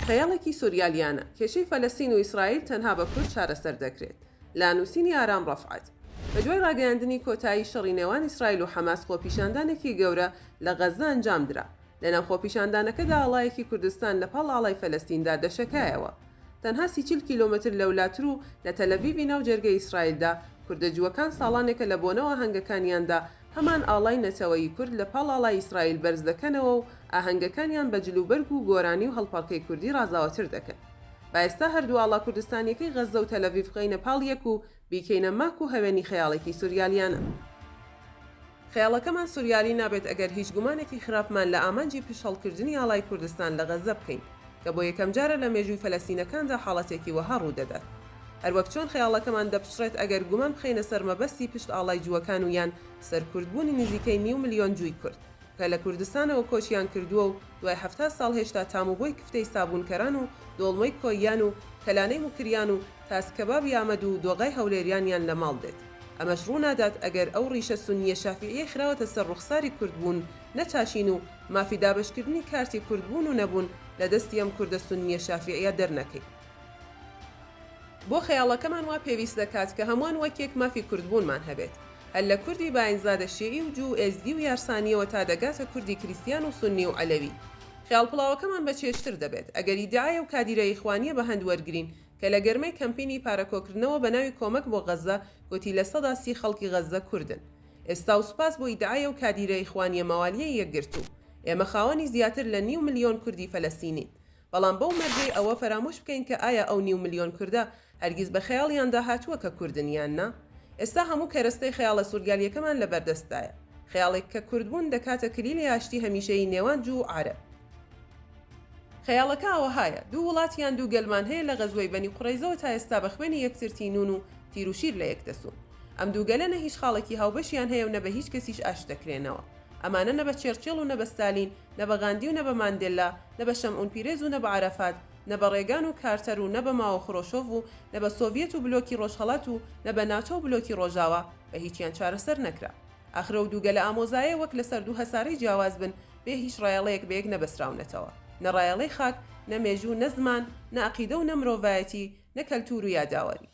خەیاڵێکی سوریالیانە، کێشەی فەلەستین و ئیسرائیل تەنها بە کورد چارەسەر دەکرێت. لە نووسینی ئارام ڕەفعەت. بەدوای ڕاگەیاندنی کۆتایی شەڕی نێوان ئیسرائیل و حەماس خۆپیشاندانێکی گەورە لە غەززە ئەنجامدرا. لەناو خۆپیشاندانەکەدا ئاڵایەکی کوردستان لەپاڵ ئاڵای فەلەستیندا دەشەکایەوە. تەنها سی چل کیلۆمەتر لەولاتر و لە تەلەڤیڤی ناو جەرگەی ئیسرائیلدا، کوردە جووەکان ساڵانێکە لە بۆنە و ئاهەنگەکانیاندا هەمان ئاڵای نەتەوەیی کورد لە پاڵ ئاڵای ئیسرائیل بەرز دەکەنەوە و ئاهەنگەکانیان بە جلوبەرگ و گۆرانی و هەڵپەڕکێی کوردی ڕازاوەتر دەکەن. با ئێستا هەردوو ئاڵا کوردستانییەکەی غەززە و تەلەڤیڤ بخەینە پاڵ یەک و بیکەینە ماک و هەوێنی خەیاڵێکی سوریالیانە. خەیاڵەکەمان سوریالی نابێت ئەگەر هیچ گومانێکی خراپمان لە ئامانجی پشتهەڵکردنی ئاڵای کوردستان لە غەززە بکەین. کە بۆ یەکەم جارە لە مێژووی فەلەستینەکاندا حاڵەتێکی وەها ڕوو دەدات. هەروەک چۆن خەیاڵەکەمان دەپچڕێت ئەگەر گومان بخەینە سەر مەبەستی پشت ئاڵای جووەکان و یان سەرکوردبوونی نزیکەی نیو ملیۆن جووی کورد کە لە کوردستانەوە کۆچیان کردووە و دوای حەفتا ساڵ هێشتا تام و بۆی کفتەی سابوونکەران و دۆڵمەی کۆییان و کەلانەی موکریان و تاس کەبابی ئامەد و دۆغای هەولێریانیان لە ماڵ دێت. ئەمەش ڕوو نادات ئەگەر ئەو ڕیشە سونییە شافیعییەی خراوەتە سەر ڕوخساری کوردبوون نەچاشین و مافی دابەشکردنی کارتی کورد بوون و نەبوون لە دەستی ئەم کوردە سوننیە شافیعیە دەرنەکەین بۆ خەیاڵەکەمان وا پێویست دەکات کە هەموان وەک یەک مافی کوردبوونمان هەبێت هەر لە کوردی باینزادە شیعی و جوو و ئێزدی و یارسانیەوە تا دەگاتە کوردی کریستیان و سوننی و عەلەوی خەیاڵ پڵاوەکەمان بە چێژتر دەبێت ئەگەر ئیدعایە و کادیرە ئیخوانیە بە هەند وەرگرین کە لە گەرمەی کەمپینی پارە کۆکردنەوە بە ناوی کۆمەک بۆ غەزە گۆتی لە سەدا سی خەڵکی غەزە کوردن ئێستا و سوپاس بۆ ئیدعای ئەو کادیرە ئیخوانیە مەوالیەی یەکگرتوو ئێمە خاوەنی زیاتر لە نیو ملیۆن کوردی فەلەستینین بەڵام بەو مەرجەی ئەوە فەرامۆش بکەین کە ئایا ئەو نیو ملیۆن کوردە هەرگیز بە خەیاڵیاندا هاتووە کە کوردن یان نا ئێستا هەموو کەرەستەی خەیاڵە سورگالیەکەمان لەبەردەستدایە خەیاڵێک کە کوردبوون دەکاتە کلیلی ئاشتی هەمیشەیی نێوان جوو و عارەب. خەیاڵەکە ئاوەهایە، دوو وڵات یان دوو گەلمان هەیە لە غەزوەی بەنی قوڕەیزەوە تا ئێستا بە خوێنی یەکتر تینوون و تیر و شیر لە یەک دەسوون. ئەم دوو گەلە نە هیچ خاڵێکی هاوبەشیان هەیە و نە بە هیچ کەسیش ئاشت دەکرێنەوە. ئەمانە نە بە چێڕچێڵ و نە بە ستالین، نە بە غاندی و نە بە ماندێللا، نە بە شەمئون پیرێز و نە بە عەرەفات، نە بە ڕێگان و کارتەر و نە بە ماۆ خرۆشۆڤ و نە بە سۆڤیەت و بلۆکی ڕۆژهەڵات و نە بە ناتۆ و بلۆکی ڕۆژاوا، بە هیچیان چارەسەر نەکرا. ئاخر ئەو دوو گەلە ئامۆزایە وەک لە سەر دوو هەسارەی جیاواز بن، بێ هیچ ڕایەڵەیەک بەیەک نەبەستراونەتەوە، نە ڕایەڵەی خاک، نە مێژوو، نە زمان، نە ئەقیدە و نە مرۆڤایەتی، نە کەلتوور و یاداوەری.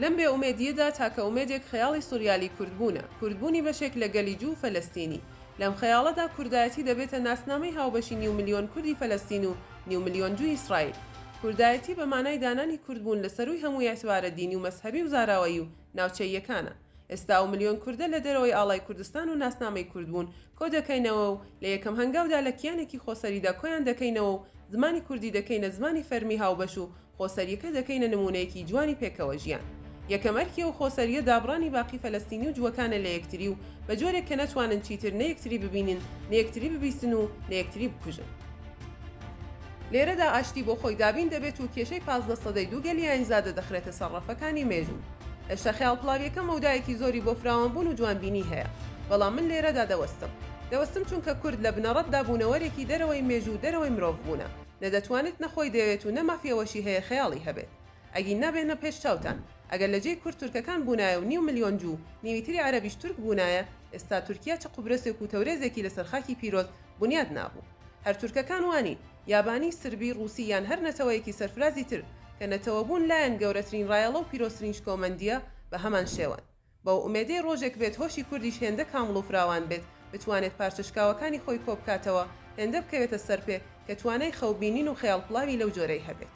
لەم بێ ئومێدییەدا تاکە ئومێدێک خەیاڵی سوریالی کوردبوونە، کوردبوونی بەشێک لە گەلی جوو و فەلەستینی. لەم خەیاڵەدا کوردایەتی دەبێتە ناسنامەی هاوبەشی نیو ملیۆن کوردی فەلەستین و نیو ملیۆن جووی ئیسرائیل. کوردایەتی بە مانای دانانی کوردبوون لە سەرووی هەموو ئیعتبارە دینی و مەزهەبی و زاراوەیی و ناوچەییەکانە. ئێستا ئەو ملیۆن کوردە لە دەرەوەی ئاڵای کوردستان و ناسنامەی کورد بوون کۆ دەکەینەوە و لە یەکەم هەنگاودا لە کیانێکی خۆسەریدا کۆیان دەکەینەوە و زمانی کوردی دەکەینە زمانی فەرمی هاوبەش و خۆسەرییەکە دەکەینە نموونەیەکی جوانی پێکەوەژیان. یەکەم ئەرکی ئەو خۆسەرییە دابڕانی باقی فەلەستینی و جووەکانە لە یەکتری و بە جۆرێک کە نەتوانن چیتر نە یەکتری ببینن، نە یەکتری ببیستن و نە یەکتری بکوژن. لێرەدا ئاشتی بۆ خۆی دابین دەبێت و کێشەی پازدە سەدەی دوو گەلی ئایینزادە دەخرێتە سەر ڕەفەکانی مێژوو. هێشتا خەیاڵ پڵاوییەکە مەودایەکی زۆری بۆ فراوانبوون و جوانبینی هەیە، بەڵام من لێرەدا دەوەستم. دەوەستم چونکە کورد لە بنەڕەتدا بوونەوەرێکی دەرەوەی مێژوو و دەرەوەی مرۆڤ بوونە، نە دەتوانێت نە خۆی دەیەوێت و نە مافی ئەوەشی هەیە خەیاڵی هەبێت. ئەگینا بێنە پێش چاوتان، ئەگەر لە جێی کورد تورکەکان بوونایە و نیو ملیۆن جوو، نیوی تری عەرەبیش تورک بوونایە، ئێستا تورکیا چ قوبرەسێک و تەورێزێکی لەسەر خاکی پیرۆز بنیات نابوو. هەر تورکەکان وا نین، یابانی، سربی، ڕووسی یان هەر نەتەوەیەکی سەرفرازی تر، کە نەتەوەبوون لایان گەورەترین ڕایەڵە و پیرۆزترین شکۆمەندییە، بە هەمان شێوەن. بەو ئومێدەی ڕۆژێک بێت هۆشی کوردیش هێندە کامڵ و فراوان بێت، بتوانێت پارچە شکاوەکانی خۆی کۆ بکاتەوە، هێندە بکەوێتە سەرپێ، کە توانای خەوبینین و خەیاڵپڵاوی لەو جۆرەی هەبێت.